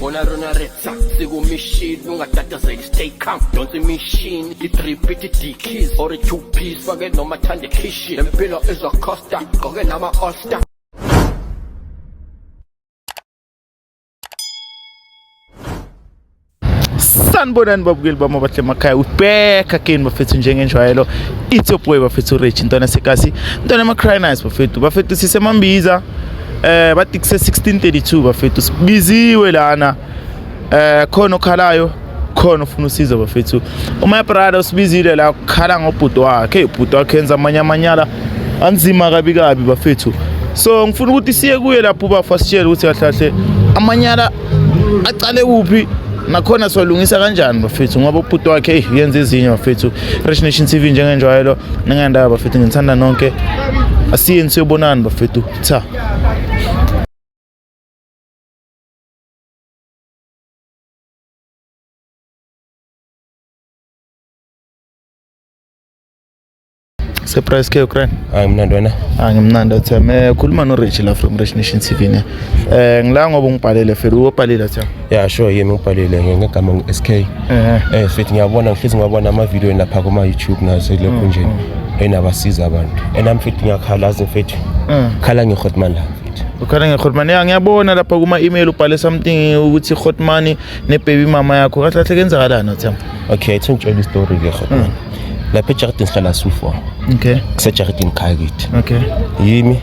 Bona rona retsa sikumishini ungatatazeli stay calm donsa imishini i-drip iti-dkeys or i-two piece fake noma thanda ekhishin lempilo izocosta gqoke nama-allstar sanibonani babukeli bami abahle emakhaya ubheka kini bafethu njengenjwayelo it's your boy bafethu rich ntwana sekasi ntwana ema-crynice bafethu bafethu sisemambiza eh bathi kuse 1632 bafethu sibiziwe lana eh khona okhalayo khona ufuna usizo bafethu uma brother usibizile la ukhala ngobhuti wakhe ubhuti wakhe enza amanye amanyala anzima kabi kabi bafethu so ngifuna ukuthi siye kuye lapho ubafa sitshele ukuthi kahle kahle amanyala aqale kuphi nakhona siwalungisa kanjani bafethu ngoba ubhuti wakhe eyi yenza ezinye bafethu Rich Nation TV njengenjwayelo ningendaba bafethu nginithanda nonke asiyeni siyobonani bafethu Cha. Surprise ke Ukraine. Hayi mina ndona. Hayi ngimnanda Theme. Khuluma no Rich la from Rich Nation TV ne. Eh ngila ngoba ungibhalele fela ubhalile Theme. ya sho yini ubhalile ngegama ngu-sk um eh, fithi ngiyabona ngihlezi ngibabona amavidiyo lapha kuma-youtube naselokhunjeni mm, mm. enabasiza abantu and nami fithi ngiyakhala azi mfethu mm. khala ngehotman la ukhala nge-hotman ya ngiyabona lapha kuma-email ubhale something ukuthi i-hotman nebaby mama yakho kahle kahle kenzakalani othemba okay ithi ngitshela istori ke hotman lapha ejardini sihlala su-four okay kusejaridini khaya kithi okay yimi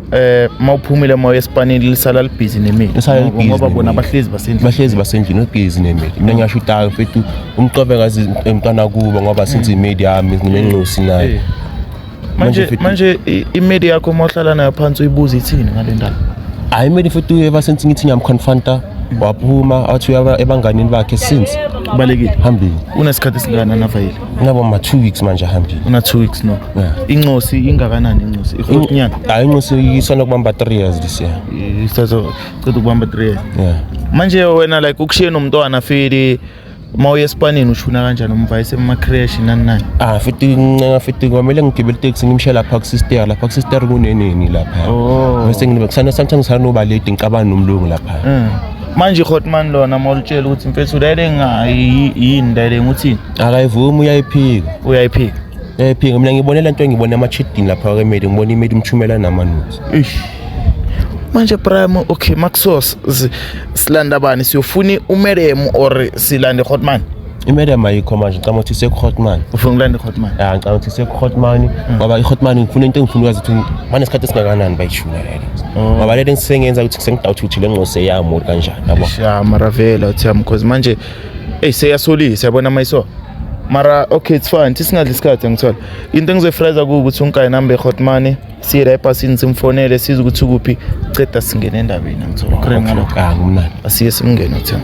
eh mawuphumile moya espanini lisala libhizi nemili Lisala libhizi ngoba nemili. bona abahlezi basendlini bahlezi basendlini obhizi nemeli mina ngisho udayo mfethu umqobe ngazi emntwana kubo ngoba since imedi yami nginencosi naye Eh. manje mfethu- manje i- imedi yakho uma uhlala nayo phansi uyibuza ithini ngale ndaba hayi imedi mfethu ever since ngithi ngiyamconfronta waphuma athi uyaba ebanganini bakhe since kubalekile phambili unesikhathi esingana navayile Ngaba ma 2 weeks manje ahambile. Una 2 weeks no. Yeah. Incosi ingakanani incosi? Ikhulunyana. Hayi incosi isona kubamba 3 years this year. Isazo cela ukubamba 3 years. Yeah. Manje wena like ukushiye nomntwana fili uma uye esipanini ushuna kanjani umva esemacresh nani nani ah futhi ncenga futhi kwamele ngigibele iteksi ngimshiye lapha kusister lapha kusister kunenini lapha oh. bese nginibe kusana sometimes sanoba late ngicabana nomlungu lapha mm. manje hotman lona mawulitshela ukuthi mfethu lele ngayi yini lele ngithini akayivumi uyayiphika uyayiphika uyayiphika mina ngibone le nto engibone ama-chidini lapha kwemedi ngibona imedi umthumela namanuzi manje prime okay maxos silanda bani siyofuna umerem or silande hotman imerem ayikho manje ngicabanga ukuthi sekuhotman ufuna ukulanda ihotman ya ngicabanga ukuthi sekuhotman mm. ngoba ihotman ngifuna into engifuna ukwazi ukuthi banesikhathi esingakanani bayishula lele oh. ngoba lento engisengenza ukuthi sengidawuthi ukuthi le ngqose yami or kanjani yabo ya maravela uthi yami because manje eyi seyasolisa yabona mayiso mara okay it's fine sisingadli isikhathi angithola into engizoyifraza kuwukuthi unkayi nambe e-hot money siye la ebhasini simfonele size ukuthi ukuphi ceda singene endabeni angithola okay ngalokho akumnandi asiye simngene uthena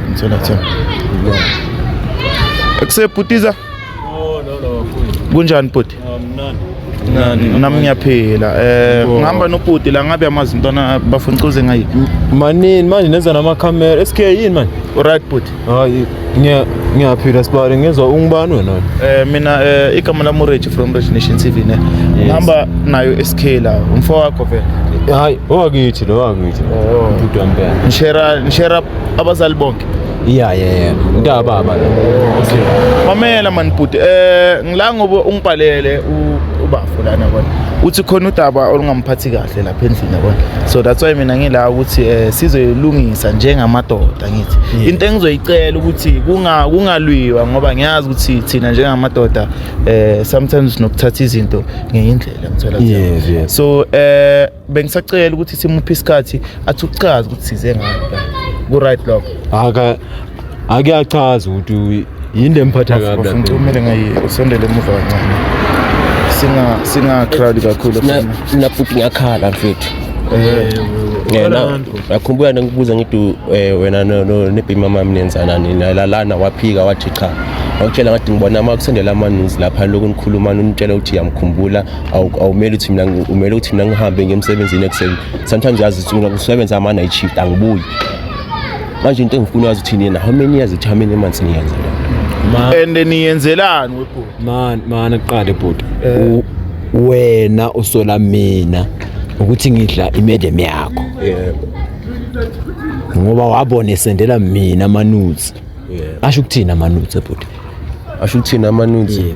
Ngithola cha. Ekusebhutiza? Oh no no. Kunjani bhuti? Mnandi. Mnandi. Nami ngiyaphila. Eh ngihamba nobhuti la ngabe amazi mntwana bafuna ucuze ngayi. Manini manje nenza nama camera. SK yini manje? Right bhuti. Hayi ngiya ngiyaphila sibale ngizwa ungubani wena? Eh mina eh igama lami Rich from Rich Nation TV ne. Ngihamba nayo SK la umfowakho vele. Hayi owakithi lo wakithi. Oh. Bhuti wampela. Ngishera ngishera abazali bonke iya yena mntaka baba lo okay mamela man bhuti eh ngila ngoba ungibhalele ubafo lana kodwa uthi khona udaba olungamphathi kahle lapha endlini yabona so that's why mina ngila ukuthi eh sizoyilungisa njengamadoda ngithi into engizoyicela ukuthi kunga kungalwiwa ngoba ngiyazi ukuthi thina njengamadoda eh sometimes nokuthatha izinto ngeindlela ngithola so eh bengisacela ukuthi simuphe isikhathi athi uchaze ukuthi size ngani ku-right loko aka ake achaze ukuthi yini lemphatha kabi lapha ngicumele ngayi usondele emuva kancane singa singa crowd kakhulu Na- mina futhi ngiyakhala mfethu eh yena akhumbula ngikubuza ngithi eh, wena no- no- nebhima mama ninenzanani nalalana waphika wathi cha wakutshela ngathi ngibona uma kusendela amaninzi lapha lokhu nikhuluma nitshela ukuthi yamkhumbula awumele ukuthi mina umele ukuthi mina ngihambe ngemsebenzini ekuseni sometimes yazi ukuthi mina kusebenza ama night shift angibuyi manje into engifuna yazi ukuthi nina how many years ukuthi how many months niyenza and niyenzelani webhuti man man aqale ebhuti eh. wena usola mina ukuthi ngidla imedem yakho yebo ngoba wabona esendela mina amanuzi asho ukuthini amanuzi ebhuti asho ukuthini amanuzi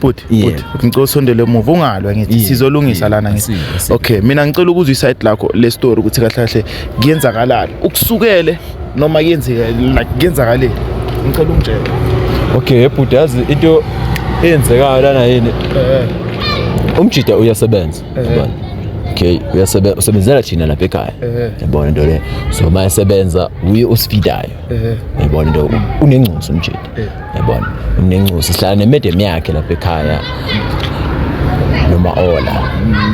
bhuti Yeah. bhuti bhuti, ngicela usondele emuva ungalwa ngithi Yeah, sizolungisa yeah, lana ngithi asile, asile. okay mina ngicela ukuzwa iside lakho le story ukuthi kahle kahle kuyenzakalani ukusukele noma kuyenzeka like kuyenzakaleni ngicela ungitshele okay bhuti yazi into eyenzekayo lana yini umjida uyasebenza yabona okay uyasebenza usebenzela thina lapha ekhaya yabona into le so uma esebenza uye osifitayo yabona into unengcunsi umjida yabona umnencusi sihlala nemedem yakhe lapha ekhaya noma ola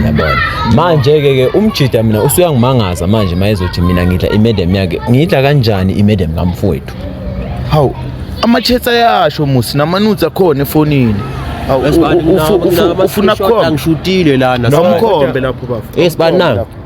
yabona manje ke ke umjida mina usuyangimangaza manje mayezothi mina ngidla imedem yakhe ngidla kanjani imedem kamfowethu hawu amathetha yasho musi namanutsi akhona efonini ufuna kukhombe ngishutile lana nomkhombe lapho bafo esibani na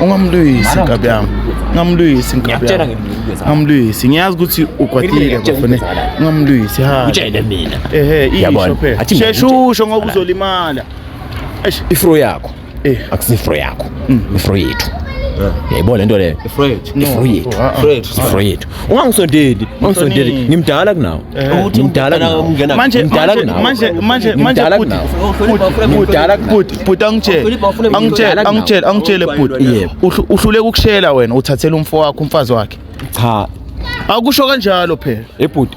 ungamlwisi nkabi yami ungamlwisi nkabi yami ungamlwisi ngiyazi ukuthi ukwatile bafone ungamlwisi ha utshele mina ehe isho phela shesha usho ngoba uzolimala ifro yakho Eh. akusifro yakho mm. ifro yethu yayibona lento leyo ifro yethu ifro yethu ah, ah. ifro yethu ungangisondeli ungangisondeli ngimdala kunawe eh. ngimdala kunawe manje mdala kunawe manje manje manje mdala bhuti bhuti angitshele angitshele angitshele angitshele bhuti yebo uhluleka ukushela wena uthathela umfo wakho umfazi wakhe cha akusho kanjalo phela ebhuti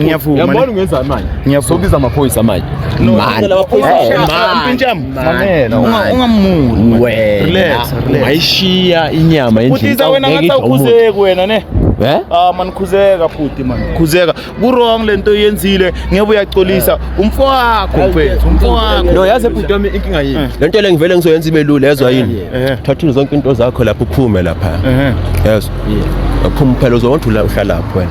Ngiyavuma. Yabona ungenzani manje? Ngiyavuma. Sobiza amaphoyisa manje. No, ngicela amaphoyisa. Eh, Mpintshami. Mamela. Ungamuli. Wena. Relax, relax. Ayishiya inyama endlini. Kuthiza wena ngathi awukhuzeki wena ne. Eh? Ah man khuzeka futhi man. Khuzeka. Ku wrong lento oyenzile. Ngeke uyacolisa eh. umfo wakho mfethu, umfo wakho. No yazi ebhuti wami inkinga yini? Eh. Lento le ngivele ngizoyenza ibe lula ezwa eh, yini? Thatha zonke into zakho lapho uphume lapha. Yes. Yeah. Aphuma phela uzowondula uhlalapho wena.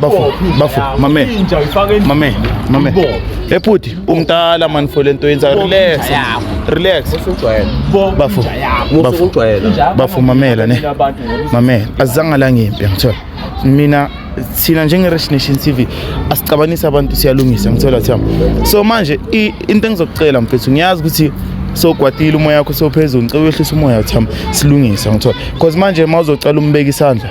Bafo, bafo, mame. Inja uyifaka endlini. Mame, mame. Ibophe. Hey bhuti, umdala man for lento yenza relax. inja yakho. Relax. Usujwayele. Bo- Bafo. inja yakho. Musa Bafo. ukujwayela. Inja yakho Bafo mamela ne. Mina abantu ngokuthi- Mame, azange la ngimpi ngithola. Mina thina njenge Rich Nation TV asicabanisi abantu siyalungisa ngithola thamba. So manje i- into engizokucela mfethu ngiyazi ukuthi sogwadile umoya wakho sophezulu ngicela uyehlisa umoya thamba silungisa ngithola. Because manje mawuzocela umbeka isandla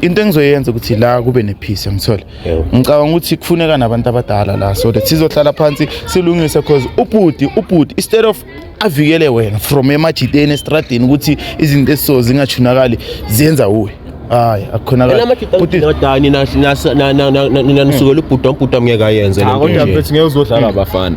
into engizoyenza ukuthi la kube nepeace ngithole ngicabanga ukuthi kufuneka nabantu abadala la so that sizohlala phansi silungise because ubhuti ubhuti instead of avikele wena from emajiteni estradini ukuthi izinto esiso zingachunakali ziyenza uwe hayi akukhonakalamadani nanisukela ubhuda umbhuda mngeke ayenze kodwa mfethu ngeke uzodlala abafana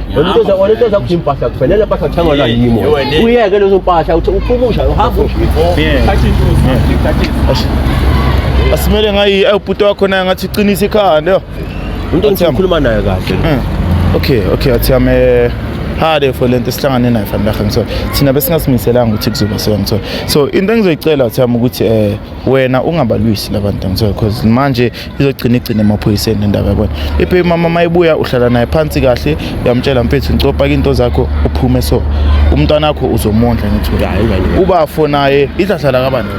Umntoza wona into zakho impahla kufanele impahla uthengwa la yimo. Uyeke lezo mpahla uthi uphumusha uhamba usho. Thatha intuzi, thatha intuzi. Asimele ngayi ubhuti wakho naye ngathi uqinisa ikhanda yo. Into engikhuluma nayo kahle. Eh. Okay, okay, athi ame eh, hade for lento sihlangane nayo fan bakhe ngithola. Thina besingazimiselanga ukuthi kuzoba so ngithola. So into engizoyicela uthi ame ukuthi eh wena ungabalwisi labantu ngithola because manje izogcina igcine emaphoyiseni indaba yabona ibaby mama mayibuya uhlala naye phansi kahle uyamtshela mfethu ngicopha into zakho uphume so umntwana wakho uzomondla ngithi ubafo naye idladla lakabani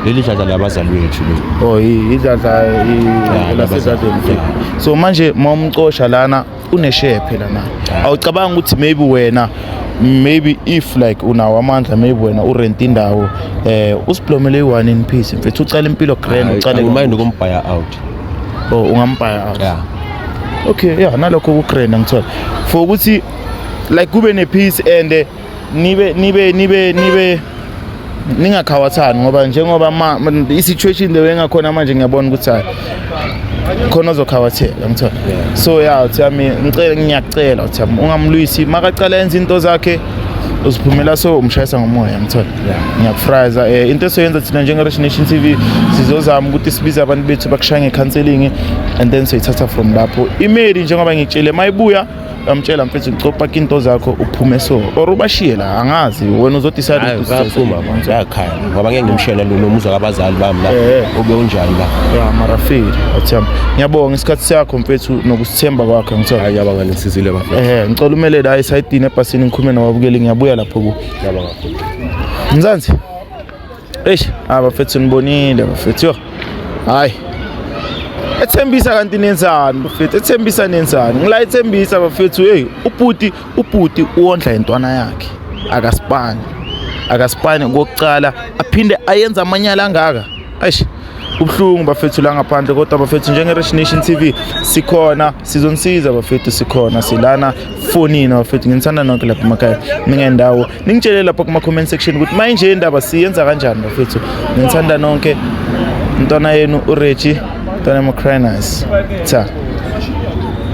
leli dladla labazali bethu oh idladla lasezadeni so manje mawumcosha lana unesheya phela na awucabanga ukuthi maybe wena maybe if like unawo amandla maybe wena urent indawo eh usiblomele i-one in peace mfethu ucala impilo grand ucale mind ukumbhaya out oh ungambhaya out yeah okay yeah nalokho kugrand ngithola for ukuthi like kube nepeace and eh, nibe nibe nibe nibe ningakhawathani ngoba njengoba i-situation leyo engakhona manje ngiyabona ukuthi hayi khona ozokhawatheka ngithola so ya uthi yami ngicela ngiyacela uthi yami ungamlwisi makacala enza into zakhe uziphumela so umshayisa ngomoya ngithola ngiyakufraza um eh, into esoyenza thina njenge-rich nation t v sizozama ukuthi sibize abantu bethu bakushaya nge-counseling and then soyithatha from lapho imeli njengoba ngitshele mayibuya amtshela mfethu copa into zakho uphume so or ubashiye la angazi wena uzodecide ukuthi uzophuma manje yakhala ngoba ngeke ngimshele lo nomuzwa kabazali bami la eh, eh. ube unjani la ya marafiki atham ngiyabonga isikhathi sakho mfethu nokusithemba kwakhe ngithe hayi yabanga nisizile bafethu eh ngicela umelele hayi sayidini ebhasini ngikhume nababukeli ngiyabuya lapho ku yabanga mzansi eish abafethu ah, nibonile bafethu yo hayi ethembisa kanti nenzani bafethu ethembisa nenzani ngila ethembisa bafethu hey ubhuti ubhuti uwondla intwana yakhe akasipani akasipani kokucala aphinde ayenza amanyala angaka eish ubuhlungu bafethu la ngaphandle kodwa bafethu njenge-rich nation t v sikhona sizonisiza bafethu sikhona silana fonini bafethu nginithanda nonke lapha emakhaya ningendawo ningitshele lapha kuma-comment section ukuthi mayinje indaba siyenza kanjani bafethu nginithanda nonke mntwana yenu ureji mntwana yamacrinas cha